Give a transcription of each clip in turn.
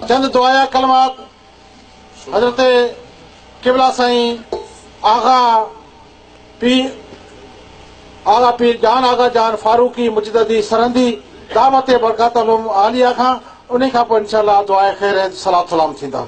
چند دعايا ڪلمات حضرت قبلا سائين آغا پير اعليٰ پير جان آغا جان فاروقي مجددي سرهندي دعوت برڪاتهم عاليه کان انهي کان پوء انشاءالله دعا خير صلات سلام ٿيندا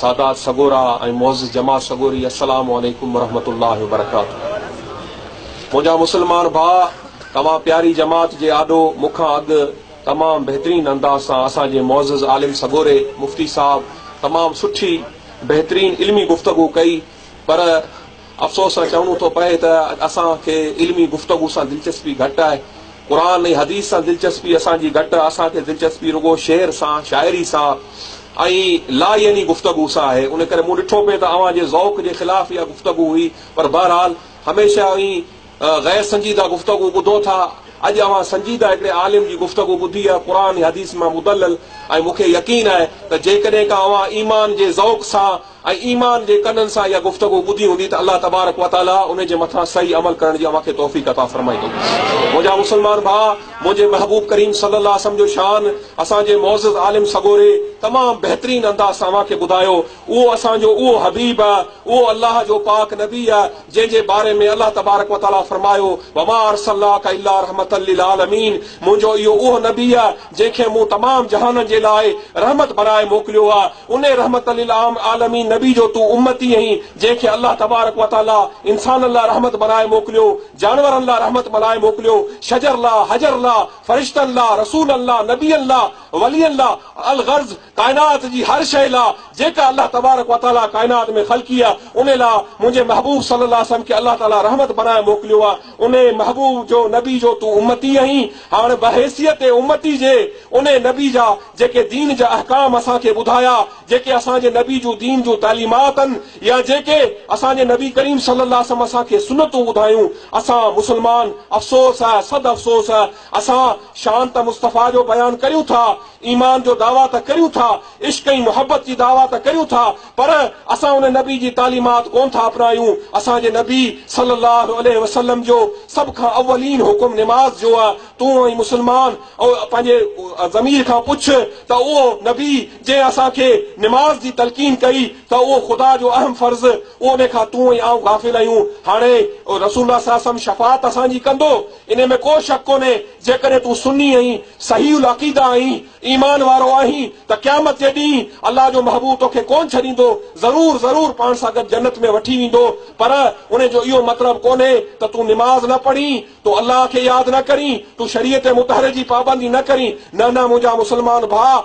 سادات سڳورا ۽ معزز جماعت سڳوري السلام عليڪم ورحمة الله وبرڪاته منهنجا مسلمان ڀاء توهان پياري جماعت جي آڏو مون کان اڳ تمام بهترين انداز سان اسان جي معزز عالم سڳوري مفتي صاحب تمام سٺي بهترين علمي گفتگو ڪئي پر افسوس سان چوڻو ٿو پئي ته اڄ اسان کي علمي گفتگو سان دلچسپي گهٽ آهي. قرآن ۽ حديث سان دلچسپي اسان جي گهٽ، اسان کي دلچسپي رڳو شعر سان، شاعري سان ۽ لايعني گفتگو سان آهي. ان ڪري مون ڏٺو پئي ته اوهان جي ذوق جي خلاف اها گفتگو هئي. پر بهرحال هميشه اوهين غير سنجيده گفتگو ٻڌو ٿا. اڄ اوهان سنجيده هڪڙي عالم جي گفتگو ٻڌي آهي قرآن ۽ حديث مان مدلل ۽ مون کي يقين آهي ته جيڪڏهن ڪا اوهان ايمان جي ذوق سان ۽ ايمان جي ڪنن سان اها گفتگو ٻڌي هوندي ته الله تبارڪ و تعاليٰ ان جي مٿان صحيح عمل ڪرڻ جي اوهان کي توفيق عطا فرمائيندو. منهنجا مسلمان ڀاء، منهنجي محبوب ڪريم صلي الله وسلم جو شان اسان جي معزز عالم سڳوري تمام بهترين انداز سان اوهان کي ٻڌايو. اهو اسان جو اهو حبيب، اهو الله جو پاڪ نبي، جنهن جي باري ۾ الله تبارڪ و تعاليٰ فرمايو، وما ارسلناک الا رحمة للعالمين منهنجو اهو اهو نبي، جنهن کي مون تمام جهانن جي لاء رحمت بڻائي موڪليو آ، انهي رحمت للعالمين نبي جو تون امتي اهين، جنهن کي الله تبارڪ و تعاليٰ انسانن لاء رحمت بڻائي موڪليو، جانورن لاء رحمت بڻائي موڪليو، شجر لاء، حجر لاء، فرشتن لاء، رسولن لاء، نبين لاء، ولين لاء، الغرض، ڪائنات جي هر شيء لا جيڪا الله تبارڪ و تعاليٰ ڪائنات ۾ خلقي آ انهي لا منهنجي محبوب صلي الله عليه وسلم کي الله تعاليٰ رحمت بنائي موڪليو آ انهي محبوب جو نبي جو تون امتي اهين هاڻ بحيثيت امتي جي انهي نبي جا جيڪي دين جا احڪام اسان کي ٻڌايا جيڪي اسان جي نبي جون دين جون تعليمات ان يا جيڪي اسان جي نبي ڪريم صلي الله عليه وسلم اسان کي سنتون ٻڌايون اسان مسلمان افسوس آ صد افسوس آ اسان شان ته مصطفيٰ جو بيان ڪريون ٿا ايمان جو دعويٰ ته ڪريون ٿا، عشق ۽ محبت جي دعويٰ ته ڪريون ٿا، پر اسان ان نبي جي تعليمات ڪونه ٿا اپنايون. اسان جي نبي صلّي اللّٰه عليه وسلّم جو سڀ کان اولين حڪم نماز جو آ. تون ۽ مسلمان او پنهنجي ضمير کان پڇ ته اهو نبي جنهن اسان کي نماز جي تلقين ڪئي ته اهو خدا جو اهم فرض ان کان تون ۽ آئون غافل آهيون. هاڻي رسول الله صلّي اللّٰه عليه وسلّم شفاعت اسان جي ڪندو؟ انهي ۾ ڪو شڪ ڪونهي جيڪڏهن تون سني ۽ صحيح العقيده آهين، ايمان وارو آهين ته قيامت جي ڏينهن الله جو محبوب توکي ڪونه ڇڏيندو، ضرور ضرور پاڻ سان گڏ جنت ۾ وٺي ويندو، پر انهي جو اهو مطلب ڪونهي ته تون نماز نه پڙهين، تون الله کي ياد نه ڪرين، تون شريعت مطهره جي پابندي نه ڪرين، نه نه منهنجا مسلمان ڀاء!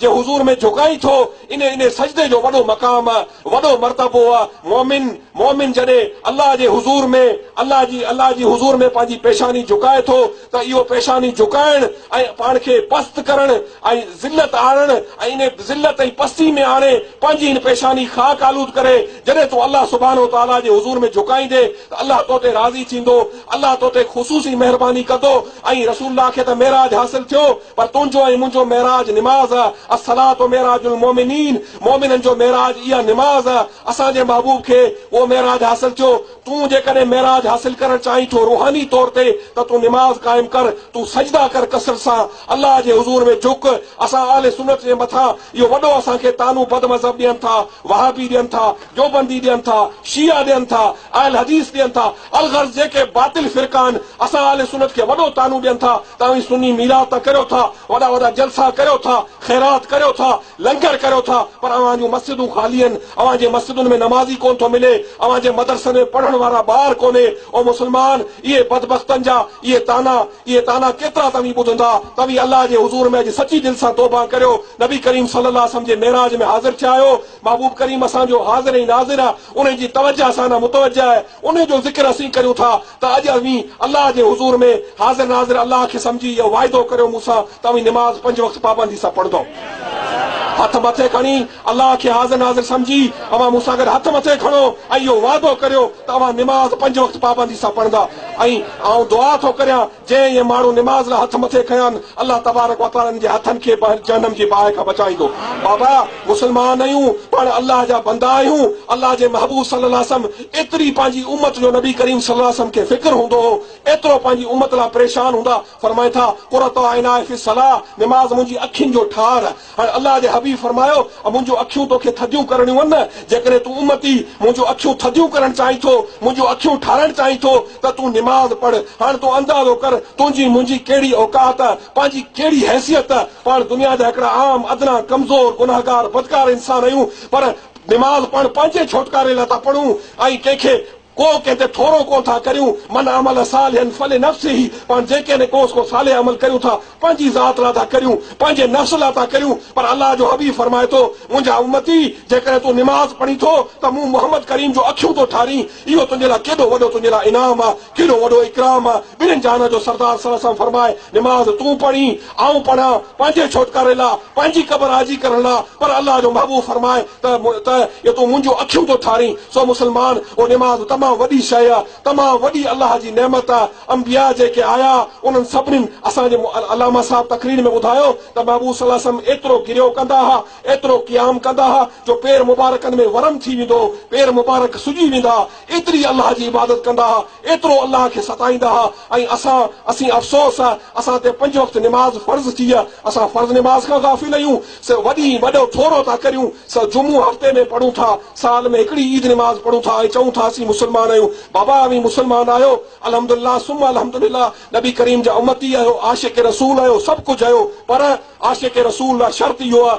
جي حضور ۾ جهڪائين ٿو، انهي انهي سجدي جو وڏو مقام آ، وڏو مرتبو آ، مؤمن، مؤمن جڏهن الله جي حضور ۾ الله جي الله جي حضور ۾ پنهنجي پيشاني جهڪائي ٿو ته اهو پيشاني جهڪائڻ ۽ پاڻ کي پست ڪرڻ ۽ ذلت آڻڻ ۽ انهي ذلت ۽ پستي ۾ آڻي پنهنجي هن پيشاني خاڪ آلود ڪري جڏهن تون الله سبحانه وتعاليٰ جي حضور ۾ جهڪائيندي ته الله تو تي راضي ٿيندو، الله تو تي خصوصي مهرباني ڪندو ۽ رسول الله کي ته معراج حاصل ٿيو، پر تنهنجو ۽ منهنجو معراج نماز آ، الصلوة معراج المومنين، مومنن جو معراج اها نماز آ، اسان جي محبوب کي اهو معراج حاصل ٿيو، تون جيڪڏهن معراج حاصل ڪرڻ چاهين ٿو روحاني طور تي ته تون نماز قائم ڪر، تون سجدا ڪر ڪثرت سان، الله جي حضور ۾ جهڪ، اسان اهل سنت جي مٿان اهو وڏو اسان کي طعنو بد مذهب ڏين ٿا، وهابي ڏين ٿا، ديوبندي ڏين ٿا، شيعا ڏين ٿا، اهل حديث ڏين ٿا، الغرض جيڪي باطل فرقا آهن اسان اهل سنت کي وڏو طعنو ڏين ٿا ته اوهين سني ميلاد ته ڪريو ٿا وڏا وڏا جلسا ڪريو ٿا خيرات ڪريو ٿا لنگر ڪريو ٿا پر اوهان جون مسجدون خالي آهن اوهان جي مسجدن ۾ نمازي ڪون ٿو ملي اوهان جي مدرسن ۾ پڙهڻ وارا ٻار ڪونهي او مسلمان اهي بدبختن جا اهي طعنا اهي طعنا ڪيترا توهين ٻڌندا توهين الله جي حضور ۾ اڄ سچي دل سان توبه ڪريو نبي ڪريم صلي الله عليه وسلم جي معراج ۾ حاضر ٿيا آهيو محبوب ڪريم اسان جو حاضر ۽ ناظر آهي، انهي جي توجه اسان ڏانهن متوجه آهي، انهي جو ذڪر اسين ڪريون ٿا ته اڄ اوهين الله جي حضور ۾ حاضر ناظر الله کي سمجهي اهو واعدو ڪريو مون سان ته اوهين نماز پنج وقت پابندي سان پڙهندؤ. هٿ مٿي کڻي الله کي حاضر ناظر سمجهي اوهان مون سان گڏ هٿ مٿي کڻو ۽ اهو وعدو ڪريو ته اوهان نماز پنج وقت پابندي سان پڙهندا ۽ آئون دعا ٿو ڪريان جي اهي ماڻهو نماز لاء هٿ مٿي کنيان الله تبارڪ و تعالي انهن جي هٿن کي به جهنم جي باهه کان بچائيندو. بابا! مسلمان آهيون، پاڻ الله جا بندا آهيون، الله جي محبوب صلي الله عليه وسلم ايتري پنهنجي امت جو نبي ڪريم صلي الله عليه وسلم کي فڪر هوندو هو، ايترو پنهنجي امت لاء پريشان هوندا، فرمائن ٿا، قرة عيناء في الصلاة، نماز منهنجي اکين جو ٺار، ۽ الله جي حبيب فرمايو، اي منهنجون اکيون توکي ٿڌيون ڪرڻيون ان، جيڪڏهن تون امتي منهنجون اکيون ٿڌيون ڪرڻ چاهين ٿو، منهنجون اکيون ٺارڻ چاهين ٿو ته تون نماز پڙهه، هاڻ تون اندازو ڪر تنهنجي منهنجي ڪهڙي اوقات، پنهنجي ڪهڙي حيثيت، پاڻ دنيا جا هڪڙا عام، ادنيٰ، ڪمزور، گنهگار، بدڪار انسان آهيون، پر نماز پاڻ پنهنجي ڇوٽڪاري لاء ٿا پڙهون ۽ ڪنهن کي ڪو ڪنهن تي ٿورو ڪو ٿا ڪريون، من عمل صالحا فلنفسه، پاڻ جيڪڏهن ڪو ڪو صالح عمل ڪريون ٿا، پنهنجي ذات لاء ٿا ڪريون، پنهنجي نفس لاء ٿا ڪريون، پر الله جو حبيب فرمائي ٿو، منهنجا امتي! جيڪڏهن تون نماز پڙهين ٿو ته مون محمد ڪريم جون اکيون ٿو ٺارين، اهو تنهنجي لاء ڪيڏو وڏو تنهنجي لاء انعام آ، ڪيڏو وڏو اڪرام آ، ٻنهين جهانن جو سردار صلعم فرمائي، نماز تون پڙهين، آئون پڙهان پنهنجي ڇوٽڪاري لا، پنهنجي قبر آجي ڪرڻ لا، پر الله جو محبوب فرمائي ته ته جو تون منهنجون اکيون ٿو ٺارين، سو مسلمان او نماز تمام وڏي شيء آ، تمام وڏي الله جي نعمت آ، انبياء جيڪي آيا انهن سڀنين اسان جي علامه صاحب تقرير ۾ ٻڌايو ته محبوب صلي الله عليه وسلم ايترو گريو ڪندا ها، ايترو قيام ڪندا ها جو پير مبارڪن ۾ ورم ٿي ويندو هو، پير مبارڪ سڄي ويندا، ايتري الله جي عبادت ڪندا ها، ايترو الله کي ستائيندا ها ۽ اسان، اسين افسوس ها، اسان تي پنج وقت نماز فرض ٿي ها، اسان فرض نماز کان غافل آهيون، سو وڏي وڏو ٿورو ٿا ڪريون، سو جمعو هفتي ۾ پڙهون ٿا، سال ۾ هڪڙي عيد نماز پڙهون ٿا ۽ چئون ٿا اسين مسلمان آهيون، بابا اوهين مسلمان آهيو، الحمد لله ثم الحمد لله، نبي ڪريم جا امتي آهيو، عاشق رسول آهيو، سڀ ڪجهه آهيو، پر عاشق رسول لا شرط اهو ها،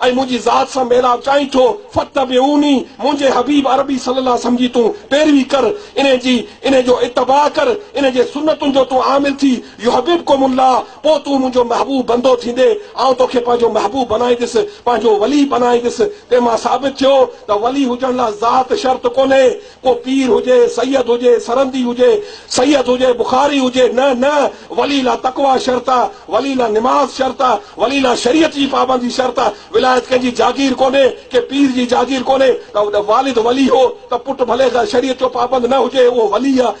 ۽ منهنجي ذات سان ميلاپ چاهين ٿو، فاتبعوني، منهنجي حبيب عربي صلي الله وسلم جي تون پيروي ڪر، انهي جي، انهي جو اتباع ڪر، انهي جي سنتن جو تون عامل ٿي، يحببڪم الله، پوء تون منهنجو محبوب بندو ٿيندي، آئون توکي پنهنجو محبوب بنائيندس، پنهنجو ولي بنائيندس، تنهن مان ثابت ٿيو ته ولي هجڻ لاء ذات شرط ڪونهي، ڪو پير هجي، سيد هجي، سرهندي هجي، سيد هجي، بخاري هجي، نه نه، ولي لا تقويٰ شرط آ، ولي لا نماز شرط آ، ولي لا شريعت جي پابندي شرط آ، ولايت ڪنهن جي جاگير ڪونهي، ڪنهن پير جي جاگير ڪونهي، ته والد ولي هو ته پٽ ڀلي شريعت جو پابند نه هجي اهو ولي آ،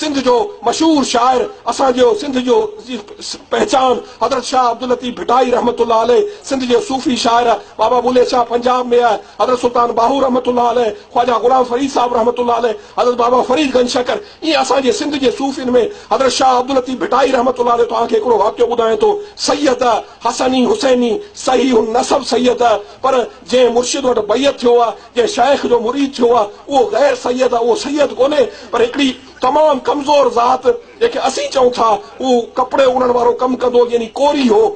سنڌ جو مشهور شاعر اسان جي سنڌ جو پهچان حضرت شاهه عبداللطيف ڀٽائي رحمة الله عليه سنڌ جي صوفي شاعر بابا بلي شاهه پنجاب ۾ حضرت سلطان باهو رحمة الله عليه خواجه غلام فريد صاحب رحمة الله عليه حضرت بابا فريد گنج شڪر ائين اسان جي سنڌ جي صوفين ۾ حضرت شاهه عبداللطيف ڀٽائي رحمة الله عليه توهان کي هڪڙو واقعو ٻڌايان ٿو سيد حسني حسيني صحيح النسب سيد پر جنهن مرشد وٽ بيعت ٿيو آ، جنهن شيخ جو مريد ٿيو آ، اهو غير سيد آ، اهو سيد ڪونهي، پر هڪڙي تمام ڪمزور ذات، جنهن کي اسين چئون ٿا، هو ڪپڙي اڻڻ وارو ڪم ڪندو هو، يعني ڪوري هو.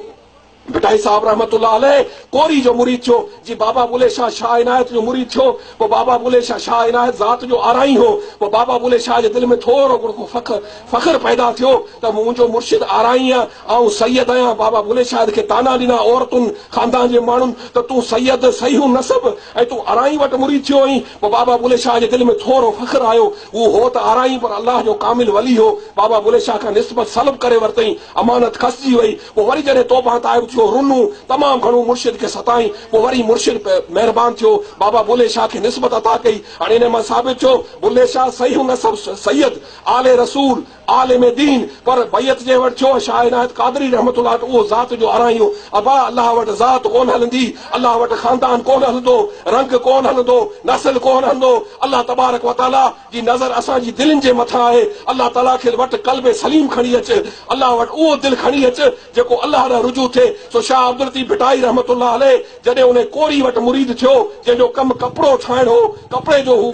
ڀٽائي صاحب رحمة الله عليه ڪوري جو مريد ٿيو، جي بابا بلي شاهه شاهه عنايت جو مريد ٿيو، پوء بابا بلي شاهه شاهه عنايت ذات جو آرائين هو، پوء بابا بلي شاهه جي دل ۾ ٿورو گهڻو فخر فخر پيدا ٿيو ته منهنجو مرشد آرائين آ، آئون سيد آهيان. بابا بلي شاهد کي طعنا ڏنا عورتن، خاندان جي ماڻهن ته تون سيد، صحيحون نسب ۽ تون ارائين وٽ مريد ٿيو آهين. پوء بابا بلي شاهه جي دل ۾ ٿورو فخر آيو. هو هو ته ارائين پر الله جو ڪامل ولي هو. بابا بلي شاهه کان نسبت سلب ڪري ورتئين. امانت کسجي وئي. پوء وري جڏهن توبهان تائب ٿيو، رنو، تمام گهڻو مرشد کي ستائين. پوء وري مرشد پ مهربان ٿيو. بابا بلي شاهه کي نسبت عطا ڪئي. هاڻي انهيء مان ثابت ٿيو، بلي شاهه صحيحون نسب، سيد، آل رسول، عالم دين پر بيعت جنهن وٽ ٿيو شاهه عنايت قادري رحمة الله وٽ اهو ذات جو آرائيون ابا الله وٽ ذات ڪونه هلندي الله وٽ خاندان ڪونه هلندو رنگ ڪونه هلندو نسل ڪونه هلندو الله تبارڪ وتعالي جي نظر اسان جي دلين جي مٿان آهي الله تعالي کي وٽ قلب سليم کڻي اچ الله وٽ اهو دل کڻي اچ جيڪو الله ڏانهن رجوع ٿئي سو شاهه عبداللطيف ڀٽائي رحمة الله عليه جڏهن انهي ڪوري وٽ مريد ٿيو، جنهن جو ڪم ڪپڙو ٺاهڻ هو، ڪپڙي جو هو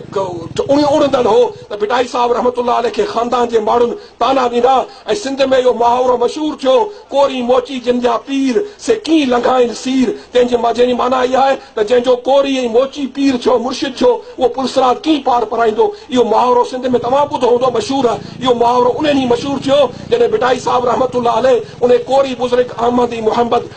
اڻندڙ هو ته ڀٽائي صاحب رحمة الله عليه کي خاندان جي ماڻهن طعنا ڏنا ۽ سنڌ ۾ اهو محاورو مشهور ٿيو، ڪوري موچي جن جا پير، سي ڪين لنگهائين سير، تنهن جي جنهن جي معنيٰ اها آهي ته جنهن جو ڪوري ۽ موچي پير ٿيو، مرشد ٿيو، اهو پل صراط ڪين پار پرائيندو، اهو محاورو سنڌ ۾ توهان ٻڌو هوندو مشهور آهي، اهو محاورو انهي ڏينهن مشهور ٿيو، جڏهن ڀٽائي صاحب رحمة الله عليه انهي ڪوري بزرگ احمد ۽ محمد.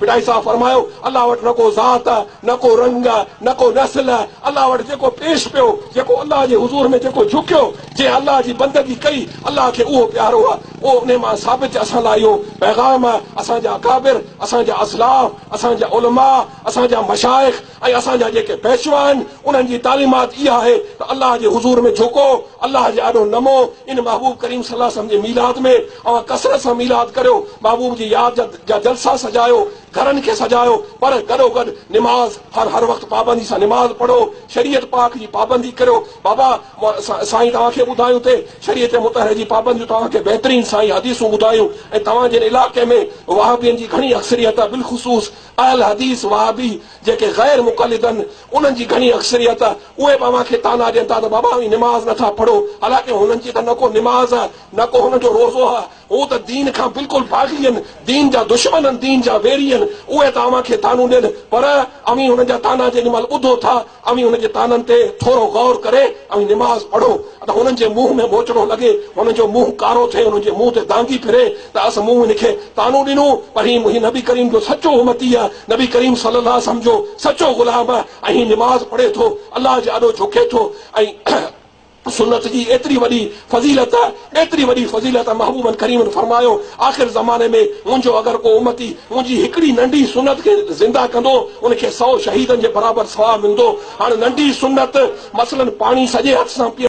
ڀٽائي صاحب فرمايو، الله وٽ نه ڪو ذات، نه ڪو رنگ، نه ڪو نسل، الله وٽ جيڪو پيش پيو، جيڪو الله جي حضور ۾ جيڪو جهڪيو، جنهن الله جي بندگي ڪئي، الله کي اهو پيارو آهي. پوء انهي مان ثابت چ اسان لاء اهو پيغام آهي، اسان جا اڪابر، اسان جا اسلاف، اسان جا علماء، اسان جا مشائخ، ۽ اسان جا جيڪي پيشوا آهن انهن جي تعليمات اها آهي ته الله جي حضور ۾ جهڪو، الله جي آڏو نمو، ان محبوب ڪريم صلي الله عليه وسلم جي ميلاد ۾ اوهان ڪثرت سان ميلاد ڪريو، محبوب جي ياد جا جا جلسا سجايو، گهرن کي سجايو، پر گڏوگڏ نماز هر هر وقت پابندي سان نماز پڙهو، شريعت پاڪ جي پابندي ڪريو، بابا سائين توهان کي ٻڌايون ته شريعت مطهره جي پابنديون توهان کي بهترين سائين حديثون ٻڌايون ۽ توهان جن علائقي ۾ وهابين جي گهڻي اڪثريت آهي بلخصوص اهل حديث وهابي جيڪي غير مقلدن انهن جي گهڻي اڪثريت اهي به اوهان کي طعنا ڏين ٿا ته بابا اوهين نماز نه ٿا پڙهو حالانڪه هنن جي ته نه ڪو نماز آهي نه ڪو هنن جو روزو آهي هو ته دين کان بلڪل باغي آهن دين جا دشمن آهن دين جا ويري آهن اهي ته اوهان کي طعنون ڏين پر اوهين هنن جا طعنا جيڏي مهل ٻڌو ٿا اوهين هن جي طعنن تي ٿورو غور ڪري اوهين نماز پڙهو ته هنن جي منهن ۾ ٻوچڙو لڳي، هنن جو منهن ڪارو ٿئي، هنن جي منهن تي دانگي ڦري ته اسان مون هن کي طعنو ڏنو پر هي منهنجي نبي ڪريم جو سچو امتي آهي، نبي ڪريم صلي الله عليه وسلم جو سچو غلام آهي ۽ هي نماز پڙهي ٿو، الله جي آڏو جهڪي ٿو ۽ سنت جي ايتري وڏي فضيلت، ايتري وڏي فضيلت محبوبن ڪريمن فرمايو، آخر زماني ۾ منهنجو اگر ڪو امتي منهنجي هڪڙي ننڍي سنت کي زنده ڪندو، ان کي سؤ شهيدن جي برابر ثواب ملندو. هاڻ ننڍي سنت مثلاً پاڻي سڄي هٿ سان پيئڻ.